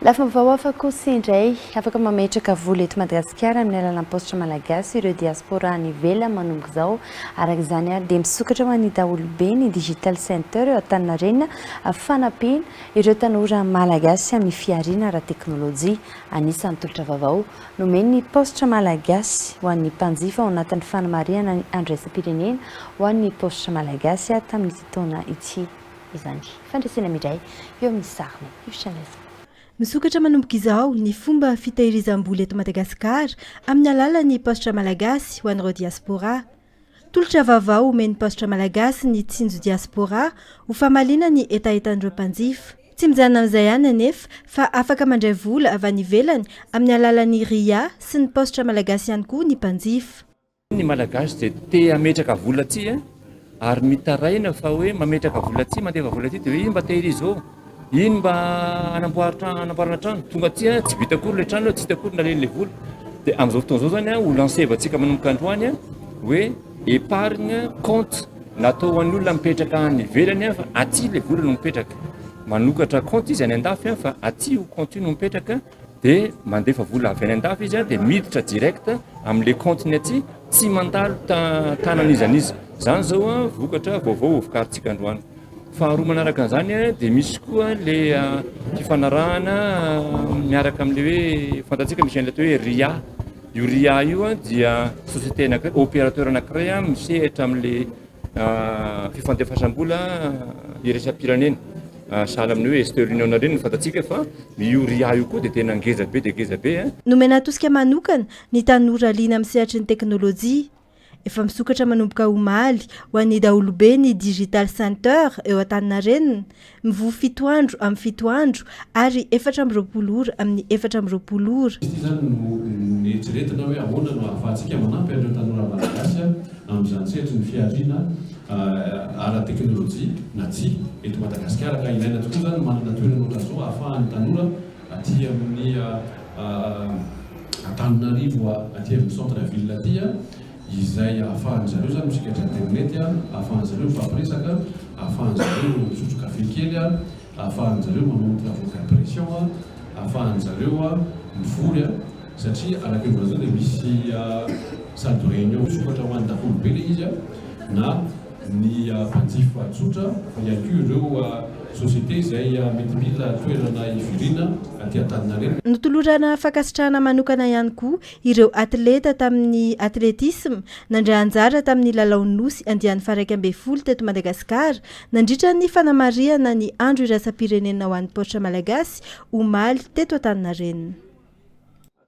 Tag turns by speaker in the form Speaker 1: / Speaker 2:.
Speaker 1: Lafim-baovao hafa kosa indray, afaka mametraka vola eto Madagasikara amin'ny alalan'ny paositra malagasy ireo diaspora any ivelany manomboka izao. Araka izany ary dia misokatra ho an'ny daholobe ny Digital Center eo Antaninarenina amin'ny fanampiana ireo tanora malagasy amin'ny fihariana ara-teknolojia. Anisan'ny tolotra vaovao nomen'ny paositra malagasy ho an'ny mpanjifa ao anatin'ny fanamarihana ny andro iraisam-pirenena ho an'ny paositra malagasy tamin'ity taona ity. izany fandresena midray eo amin'ny sariny io channel zany. Misokatra
Speaker 2: manomboka izao ny fomba fitahirizam-bola eto Madagasikara amin'ny alalan'ny paositra malagasy ho an'ireo diaspora. Tolotra vaovao omen'ny paositra malagasy ny Tsinjo Diaspora ho famaliana ny hetahetan'ireo mpanjifa. Tsy mijanona amin'izay ihany anefa fa afaka mandray vola avy any ivelany amin'ny alalan'ny ria sy ny paositra malagasy ihany koa ny mpanjifa. Ny Malagasy
Speaker 3: dia te hametraka vola aty a, ary mitaraina fa hoe mametraka vola aty, mandefa vola aty dia hoe iny mba tehirizo ô, iny mba hanamboary trano, hanamboarana trano, tonga aty a, tsy vita akory ilay trano a, tsy hita akory naleny ilay vola. Dia amin'izao fotoana izao izany a, ho lancer-vantsika manomboka androany a, hoe épargne compte natao ho an'ny olona mipetraka any ivelany a, fa aty ilay vola no mipetraka. Manokatra compte izy any an-dafy a, fa aty io compte io no mipetraka. dia mandefa vola avy any an-dafy izy dia miditra direct amin'ilay compte-ny aty, tsy mandalo tanan'iza n'iza. Izany izao an, vokatra vaovao hovokarintsika androany. Faharoa manaraka an'izany an, dia misy koa ilay fifanarahana miaraka amin'ilay hoe fantatsika misy an'ilay atao hoe RIA. Io RIA io an dia société anankiray, opérateur anankiray misehatra amin'ilay. Fifandefasam-bola iraisam-pirenena, sahala amin'ny hoe Western Union ireny no fantatsika fa io ria io koa dia tena ngeza be dia ngeza be. Nomena tosika manokana
Speaker 2: ny tanora liana amin'ny sehatry ny teknolojia. Efa misokatra manomboka omaly ho an'ny daholobe ny Digital Center eo Antaninarenina, Mivoha fito andro amin'ny fito andro, ary efatra amby roapolo ora amin'ny efatra amby roapolo ora. Ity izany no
Speaker 4: noeritreretina hoe ahoana no ahafahantsika manampy an'ireo tanora Malagasy amin'izany sehatry ny fihariana ara-teknolojia na tsy eto Madagasikara ka ilaina tokoa izany ny manana toerana ohatran'izao ahafahan'ny tanora aty amin'ny Antananarivo aty amin'ny centre ville aty izay ahafahan'ny zareo izany misikatra aterinetyy, ahafahan'ny zareo mifampiresaka, ahafahan'ny zareo misotro kafe kely, ahafahan'ny zareo manao ny travaux d'impression, ahafahan'ny zareo mivory satria araka ny voalazana dia misy salle de réunion misokatra ho an'ny daholobe ilay izy na ny mpanjifa tsotra fa ihany koa ireo sociétés izay mety mila toerana hivoriana aty Antaninarenina. Notolorana
Speaker 2: fankasitrahana manokana ihany koa Ireo atleta tamin'ny atletisma nandray anjara tamin'ny Lalaon'ny Nosy andiany faharaika ambin'ny folo teto Madagasikara nandritra ny fanamarihana ny Andro iraisam-pirenena ho an'ny Paoitra Malagasy omaly teto Antaninarenina.